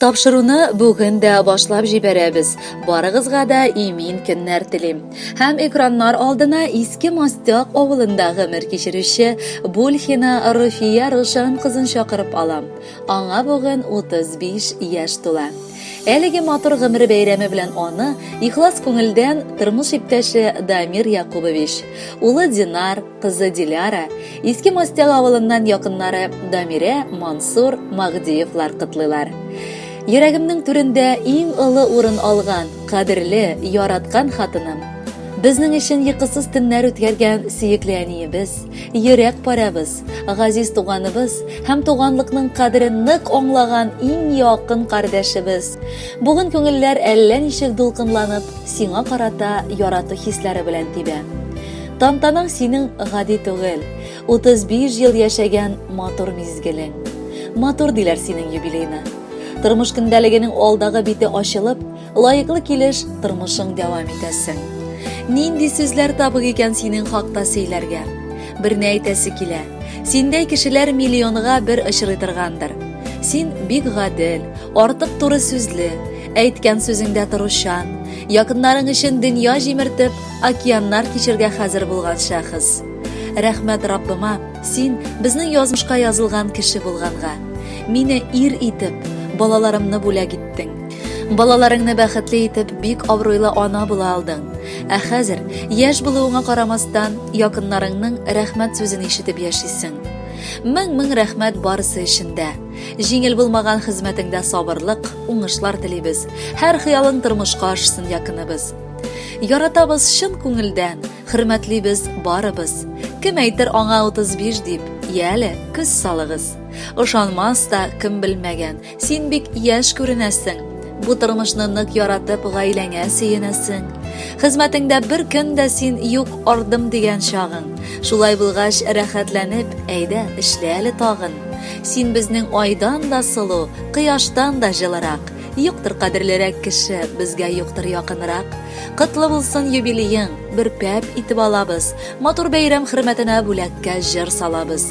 Тапшыруны бүген дә башлап җибәрәбез. Барыгызга да имин көннәр телим. Һәм экраннар алдына Иске Мастяк авылында гомер кичерүче Бульхина Руфия Рушан кызын чакырып алам. Аңа бүген 35 яшь тула. Әлеге матур гомере бәйрәме белән аны ихлас күңелдән тормыш иптәше Дамир Якубович, улы Динар, кызы Диляра, Иске Мостяк авылыннан якыннары Дамирә, Мансур, Магдиевлар котлыйлар. Йөрәгемнең түрендә иң олы урын алган, кадерле, яраткан хатыным, безнең өчен йокысыз төннәр үткәргән сөекле әниебез, йөрәк парәбез, Газиз туганыбыз һәм туганлыкның кадерен нык аңлаган иң якын кардәшебез. Бүген күңелләр әллә ничек дулкынланып, сиңа карата ярату хисләре белән тибә. Тантанаң синең гади түгел, 35 ел яшәгән матур мизгелең. Матур диләр синең юбилейны. Тормыш көндәлегенең алдагы бите ачылып, Лаеклы килеш тормышың дәвам итәсең. Нинди сүзләр табык икән синең хакта сөйләргә? Берне әйтәсе килә. Синдәй кешеләр миллионга бер очрый торгандыр. Син бик гадел, артык туры сүзле, әйткән сүзеңдә торучан, якыннарың өчен дөнья җимертеп, океаннар кичергә хәзер булган шәхес. Рәхмәт Раббыма, син безнең язмышка язылган кеше булганга. Мине ир итеп, балаларымны бүләк итте. иттең. Балаларыңны бәхетле итеп, бик абруйлы ана була алдың. Ә хәзер, яшь булуыңа карамастан, якыннарыңның рәхмәт сүзен ишетеп яшисең. Мең-мең рәхмәт барысы өчен дә. Җиңел булмаган хезмәтеңдә сабырлык, уңышлар телибез. Һәр хыялың тормышка ашсын якыныбыз. Яратабыз чын күңелдән, хөрмәтлибез барыбыз. Кем әйтер аңа 35 дип, яле, күз салыгыз. Ошанмас та, кем белмәгән, Син бик яшь күренәсең. Бу тормышны нык яратып, гаиләңә сөенәсең. Хезмәтеңдә бер көн дә син юк ардым дигән чагың. Шулай булгач, рәхәтләнеп, әйдә, эшлә әле тагын. Син безнең айдан да сылу, кояштан да җылырак. Юктыр кадерлерәк кеше, безгә юктыр якынрак. Котлы булсын юбилеең, бер пәп итеп алабыз. Матур бәйрәм хөрмәтенә бүләккә җыр салабыз.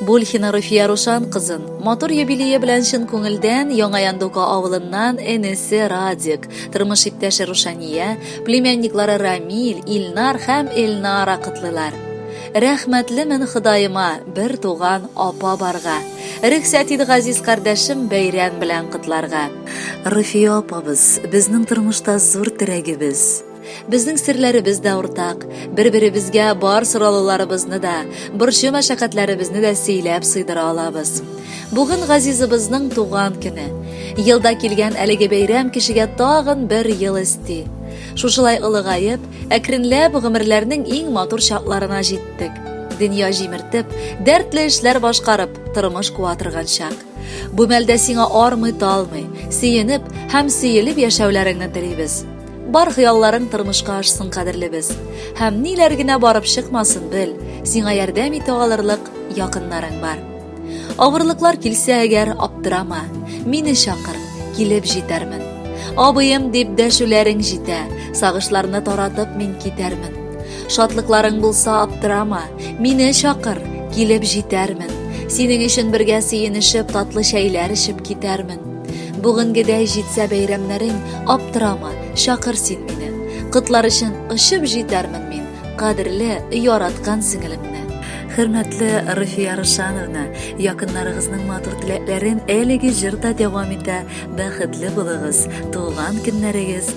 Бульхина Руфия Рушан кызын матур юбилее белән чын күңелдән Яңа Яндука авылыннан энесе Радик, тормыш иптәше Рушания, племянниклары Рамиль, Илнар һәм Эльнара котлыйлар. Рәхмәтлемен Ходаема, бер туган апа барга. Рөхсәт ит газиз кардәшем бәйрәм белән котларга. Руфия апабыз, безнең тормышта зур терәгебез. Безнең серләребез дә уртак. Бер-беребезгә бар соралуларыбызны да, борчу мәшәкатьләребезне дә сөйләп сыйдыра алабыз. Бүген газизыбызның туган көне. Елда килгән әлеге бәйрәм кешегә тагын бер ел өсти. Шушылай олыгаеп, әкренләп гомерләрнең иң матур чакларына җиттек. Дөнья җимертеп, дәртле эшләр башкарып, тормыш куа торган чак. Бу мәлдә сиңа армый-талмый, сөенеп һәм сөелеп яшәүләреңне телибез. Бар хыялларың тормышка ашсын, кадерлебез. Һәм ниләр генә барып чыкмасын, бел, сиңа ярдәм итә алырлык якыннарың бар. Авырлыклар килсә әгәр, аптырама, мине чакыр, килеп җитәрмен. Абыем дип дәшүләрең җитә, сагышларны таратып мин китәрмен. Шатлыкларың булса аптырама, мине чакыр, килеп җитәрмен. Синең өчен бергә сөенешеп, татлы чәйләр эчеп китәрмен. Бүгенгедәй җитсә бәйрәмнәрең, аптырама, чакыр син мине. Котлар өчен очып җитәрмен мин, кадерле, яраткан сеңелемне. Хөрмәтле Руфия Рушановна, якыннарыгызның матур теләкләрен әлеге җырда дәвам итә. Бәхетле булыгыз, туган көннәрегез